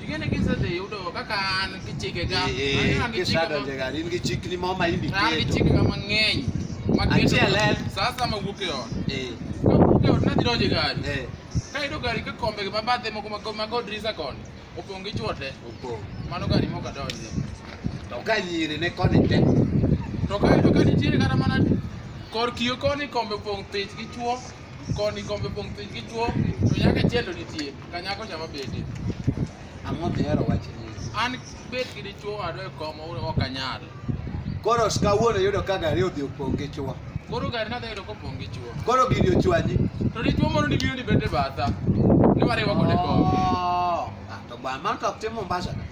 Di ngeen a gisante yow doo ba kaan ki cike ga. Ki sada jega ni ki cik ni mama indi ke. Ni cik ga ma ngeny. Ma ke sasa ma wuke on. Eh. Ka wuke on na diro jega. Eh. Ka ido gari ka kombe ga babate mo kuma ma god risa kon. Opong gi chuote. Opong. Mano gari mo ka donje. To ka nyiri ne koni te. To ka ido ka nitiere kata mana kor kio koni kombe opong thich gi chuo. Koni kombe pong' piny gi chwo, to nyaka chendo nitie, ka nyako cha mabede. Ang'o mihero wach ni? An bet gi dichwo wadwa e kom ok anyal. Koro kawuono yudo ka gari odhi opong' gi chwo. Koro gari nadhi yudo kopong' gi chwo. Koro gini ochwanyi. To dichwo moro ni biro ni bete batha. Ni wariwa kode kom. Oh, ah, to ba man to ok tim Mombasa.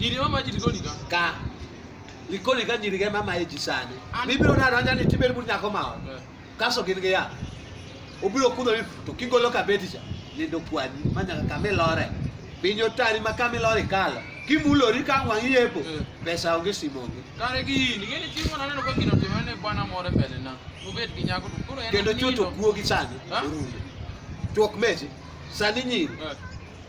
Nyiri mama ji likoni ka. Ka. Likoni ka nyiri ge mama e ji sani. Bibiro na ranja ni tibel bur nyako mao. Eh. Kaso gin ge ya. Obiro kudho ni to kigolo ka beti cha. Ni do kwani manya ka me lore. Binyo tari ma ka me lore kala. Kimulori ka ngwangi yepo. Eh. Pesa onge simonge. Kare gi ni ngene chi mona neno ka gino timo ne bwana more mbele na. Obet gi nyako to koro en. Kendo chuto kuogi sani. Chuok mechi. Sani nyiri. Eh.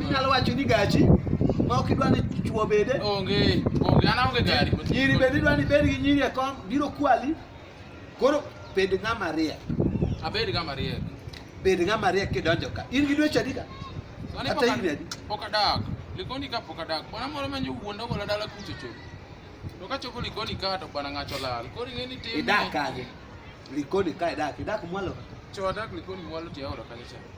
Inyalo wacho ni gachi ma ok idwa ni chuo bede. Onge, onge, an aonge gari. Nyiri bende idwa ni bed gi nyiri e kom, biro kwali. Koro bed ng'ama riek. Abed ng'ama riek. Bed ng'ama riek kidonjo ka. In gi dweche adi ka? Kata higni adi? Pok adak. Likoni ka pok adak. Bwana moro manyo wuonda gola dala kucho cho. To ka chopo likoni ka to bwana ng'acho lal. Koro ing'e ni tim. Idak kanye? Likoni ka idak, idak mwalo ka. Cho adak likoni mwalo tiaora kanyo cha.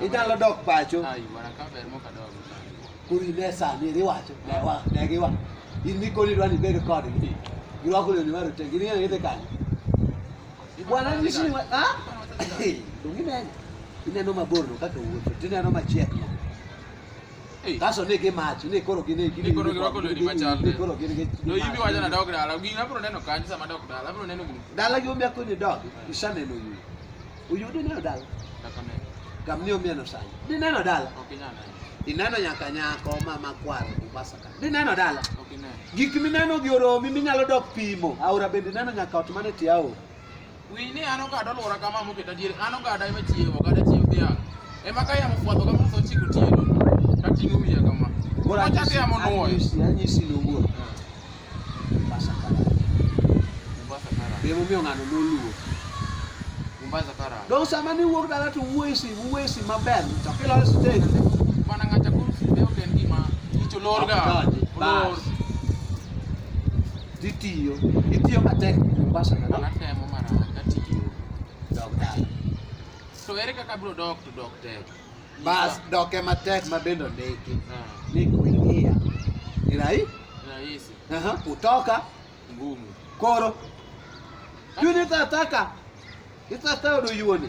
Idan lo dok pacho. Ai bwana kaber mo kadogo. Kuri lesa ni riwacho. Ne wa ne giwa. In mi koli dwani bedo kod ni. Giwa kuli ni waru te gini ngete kanyo. Bwana ni shi wa ha? Dungi ne. Ineno mabor no kaka wuotho. Tineno machiek no. Kaso ne ke mach, ne koro gine gine. Ne koro girwako lewni machal. Ne koro gine gine. No yimi wacho nadok dala. Gini abro neno kanyo sama adok dala. Abro neno gini. Dala gi omia konyo dog. Isaneno yu. Uyudo neno dala. Dakone. Kam ni omia no sai. Ni neno dala. Ok inyana. Ineno nyaka nyako ma makwar Mombasa ka. Ni neno dala. Ok ineno. Gik mineno gi oromi minyalo dok pimo. Aora bende neno nyaka ot mane tiao. Winj ni an ogada olwora kama moketa diere, an ogada ema chiewo, ogada chiewo dhiang'. Ema ka yamo fwadho kama to chiko tieno, tating'o wiya kama. Koro achako yamo nwoyo. Anyisi nowuok. Mombasa Karani. Mombasa Karani. Be momiyo ng'ano noluwo. Mombasa Karani. Dong sama ni wuok dala to wuoyi si, wuoyi si maber, to kilor stage. Bana ng'ata kuom si be ok en gima icho lorga. Olor. Itiyo, itiyo matek Mombasa na An atemo mana katiyo. dog dala. To ere kaka abiro dok to dok tek? Bas doke matek ma bende ondiki Ah, ni kuingia ni rahi rahisi, aha, kutoka ngumu. koro juni tataka itatayudo yuoni